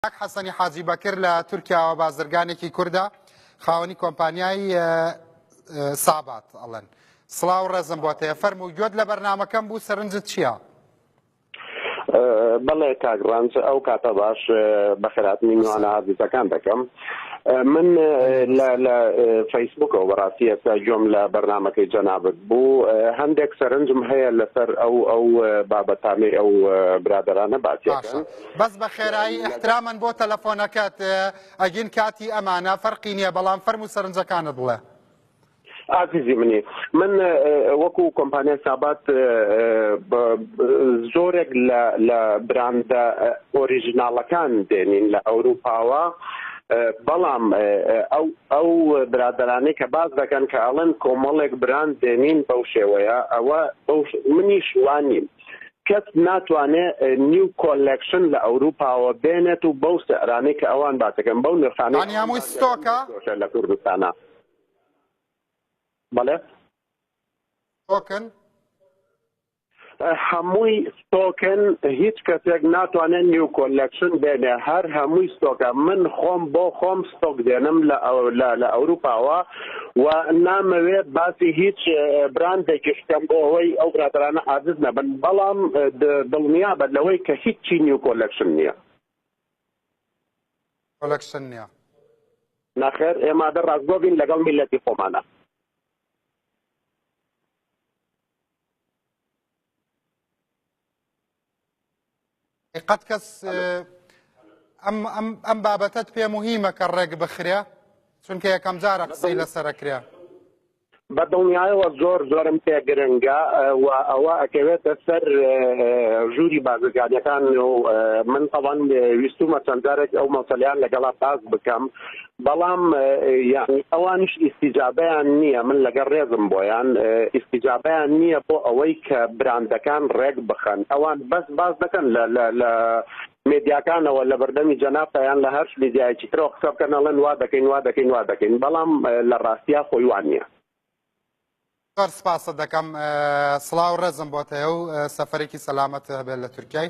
کاک حەسەنی حاجی بەکر لە تورکیاوە بازرگانێکی کوردە خاوەنی کۆمپانیای سابات ئەڵەن سڵاو ڕێزم بۆ تێ فەرم و گوێت لە بەرنمەکەم بوو سەرنجت چییە؟ بەڵێ کاک ڕەنج ئەو کاتە باش بە خراپنی نوانە ئازیزەکان دەکەم من لە فەیسبوکەوە بەڕاستی ئێستا گوۆم لە بەرنمەکەی جەنابەت بوو هەندێک سەرنجم هەیە لەسەر ئەو ئەو بابەتانەی ئەو برادرانە باسیەکەن بەس بە خێرایی ئیحترامەن بۆ تەلەفۆنەکەت ئەگین کاتی ئەمانە فەرقی نییە بەڵام فەرم و سەرنجەکانت بڵێ. ئازیزی منی من وەکو کۆمپانیای سابات زۆرێک لە براندە ئۆریژناڵەکان دێنین لە ئەوروپاوە بەڵام ئەو ئەو برادرانەی کە باز دەکەن کە ئەڵەن کۆمەڵێک براند دێنین بەو شێوەیە ئەوە منیش وانیم کەس ناتوانێ نیو کۆلێکشن لە ئەوروپاوە بێنێت و بەو سعرانەی کە ئەوان باسەکەن بەو نرخانەی ئەنی هەمووی ستۆکە لە کوردستانە بەڵێ ستۆکن هەمووی ستۆکن هیچ کەسێک ناتوانێت نیو کۆلێکشن بێنێ هەر هەمووی ستۆکە من خۆم بۆ خۆم ستۆک دێنم لە ئەوروپاوە و نامەوێ باسی هیچ براندێکیش بکەم بۆ ئەوەی ئەو برادرانە عاجز نەبن بەڵام دڵنیا بە لەوەی کە هیچ چی نیو کۆلەکشن نییە کۆلەکشن نییە ناخێر ئێمە دە ڕاستگۆ بین لەگەڵ میلەتی خۆمانە قەت کەس ئەم بابەتت پێ مهمە کە ڕێک بخرێ چونکە یەکەم جارە قسەی لەسەرکرێ بە دڵنیایەوە زۆر زۆرم پێ گرنگە و ئەوە ئەکەوێتە سەر ژووری بازرگانەکان و من تەوان ویستومە چەندارێک ئەو مەسەلیان لەگەڵا باز بکەم بەڵام یەعنی ئەوانیش ئیستیجابەیان نییە من لەگەڵ ڕێزم بۆیان ئیستیجابەیان نییە بۆ ئەوەی کە براندەکان ڕێک بخەن ئەوان بەس باس دەکەن لە لە لە مێدیاکانەوە لە بەردەمی جەنابتەیان لە هەرش میدیایکی ترەوە قسە بکەن ئەڵێن وا دەکەین وا دەکەین وا دەکەین بەڵام لە ڕاستیا خۆی وان نییە زۆر سپاست دەکەم سڵاو ڕێزم بۆت هەیە و سەفەرێکی سەلامەت هەبێت لە تورکیای